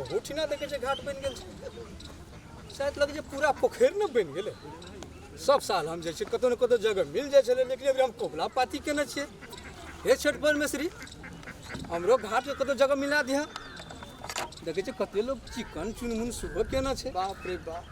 ओहोठिना देखै छै घाट बनि गेल छै शायद लगै छै पूरा पोखरि ने बनि गेलै सब साल हम जाइ छियै कतहु ने कतहु जगह मिल जाइ छलै लेकिन अभी हम कबुला पाती केने छियै हे छठि परमेश्वरी हमरो घाटके कतहु जगह मिला दिहँ देखै छै कते लोग चिकन चुनमुन सुबह केना छै बाप रे बाप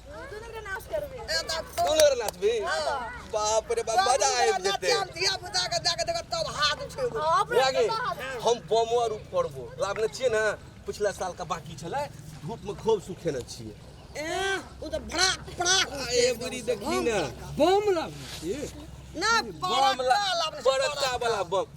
बाप रे बाप मजा आबि जेतै धिया पुता के जाके देखत तब हाथ उठेबो लागे हम बमो आर फोड़बो लाभने छियै ने पिछला साल का बाकी छलै धूप में खूब सुखेने छियै ए ओ त भड़ा पड़ा ए बुरी देखी ने बम लाभ ना बम लाभ बड़का वाला बम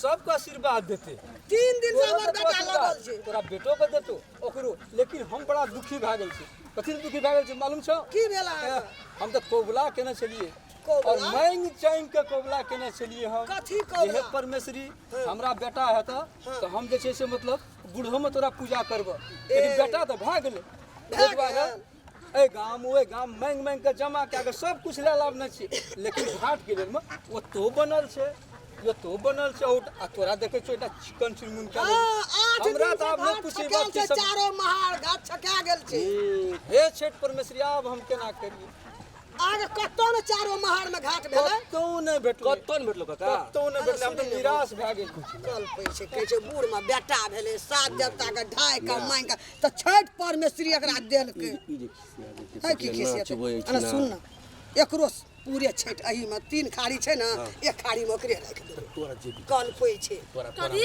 सबके आशीर्वाद देते तीन दिन से हमर बेटा लगल छै तोरा बेटो के देतो ओकरो लेकिन हम बड़ा दुखी भए गेल छी कथी लए दुखी भए गेल छी मालूम छौ की भेल अहाँ हम तऽ कबुला केने छलियै कबुला? और मांग चांग के कबुला केने छलियै हम कथी कबुला? जे हे परमेश्वरी हमरा बेटा हेत तऽ हम जे छै से मतलब बूढ़ो में तोरा पूजा करबह लेकिन बेटा तऽ भए गेलै ताहि दुआरे एहि गाम ओहि गाम मांगि मांगि कऽ जमा कए कऽ सब किछु लए लाबने छी लेकिन घाट के लेल मे ओतो बनल छै ओतो बनल छै उठ आ तोरा देखे छो एकटा चिकन चुनमुन कए लेलक। आठ दिन हमरा से तऽ आब नहि घाट पूछी छकायल बात छै, की सब चारो महार घाट छका गेल छै हे छठ परमेश्वरी आब हम केना करियै आगे कतौ ने चारो महार में घाट भेलै कतौ नहि भेटलै कतौ नहि भेटलो काका कतौ नहि भेटलै हम तऽ निराश भए गेल कल पै छै कहै छै बूढ़ में बेटा भेलै सात देवता के ढाइ के मांगि के तऽ छठि परमेश्वरी एकरा देलकै है की खिसियत अरे सुन ना एकरो पूरे छठि अही में तीन खाड़ी छै ने एक खाड़ी में ओकरे राखि देबै तोरा जे कल पै छै तोरा कथी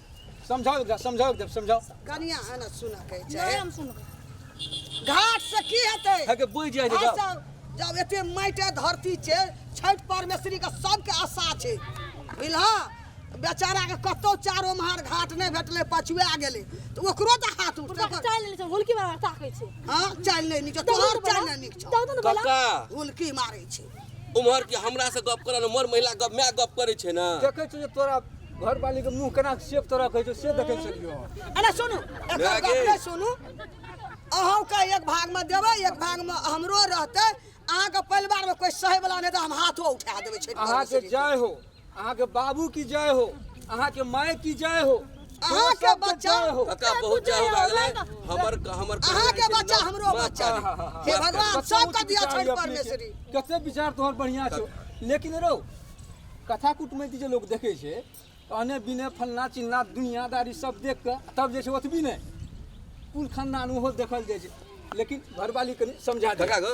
समझाओ एकरा समझाओ एकदम समझाओ कनिया आना सुना कहै छै नहि हम सुनबै घाट से की हेतै हके बुझ जाय जे जाओ। आशा- जब एते माटि आ धरती छै छठि परमेश्वरी के सबके आशा छै बुझलहा बेचारा के कतौ चारो महार घाट नहि भेटलै पछुआ गेलै तऽ ओकरो तऽ हाथ उठतै पूरा ओकर- चालि लेने छै हुलकी मार ताकै छै हाँ चालि नहि नीक छै, तोहर चालि नहि नीक छौ दौड़ दौड़ बोला काका हुलकी मारै छै उम्हर कि हमरा से गप करल उम्हर महिला गप मैं गप करे छे ना देखे छे तोरा घर वाली के मुंह केना सेफ तरह कहे छे से देखे छलियो अरे सुनू एक गप रे सुनू अहू के एक भाग में देवे एक भाग में हमरो रहते अहाँ के परिवार में कोई सहे वाला नहीं तो हम हाथो उठा देवे छे अहाँ के जाय हो अहाँके बाबू की जय हो अहाँके माय की जय हो अहाँ के बच्चा काका बहुत जय हो गए हमर हमर अहाँ के बच्चा हमरो बच्चा हे भगवान सब के दिया छठ परमेश्वरी कते विचार तोहर बढ़िया छो लेकिन रो कथा कुटमैती जे लोग देखे छे अने बिने फलना चिन्ना दुनियादारी सब देख के तब जे छे ओतबी ने कुल खानदान ओहो देखल जाय छे लेकिन घरवाली कनी समझा दे काका गो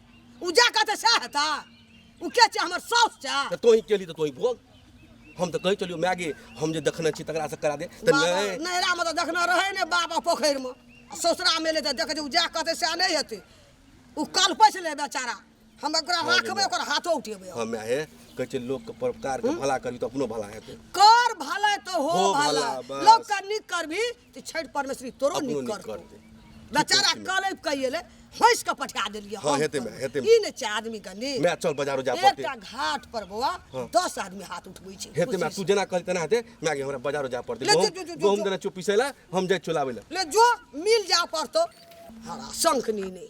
उ जा कहते सह हेता उ के छै हमर साउस छै तऽ तोही केली तऽ तोही भोग हम तऽ कहै चलियौ माय गे हम जे देखने छी तकरा से करा दे तऽ बाबा, नहि नैहरा में तो देखना रहे ने बाबा पोखर में ससुरा में ले तो देखे जे उ जा कहते सह नहीं हेते उ कल पैस ले बेचारा हम ओकरा राखबे ओकर हाथो उठेबे हम। हँ माय हे कहै छै लोकके परोपकारके भला करबी तऽ अपनो भला हेतै कर भले तो हो हो भला भला, बस। लोग का निक करबी तऽ छठि परमेश्वरी तोरो अपनो नीक नीक करतौ करतै। बेचारा कहै छी, कलैप कहि एलै हँसि कऽ पठा देलियै हँ, हम हेतै माय, कलैप। हेतै माय। ई नहि छै आदमी के नीक माय चल बाजारो जाय पड़तै एकटा घाट पर बौआ दस आदमी हाथ उठबै छै हेतै माय खुशी तू जेना कहली तेना हेतै माय गे हमरा बाजारो जाय पड़तै ले, जो, गहूम जो, जो, जो, गहूम जो। देना चुप पीसै लए हम जाइ चुलाबै लए से। ले जो मिल जा पड़तौ हरा शंख नी नहि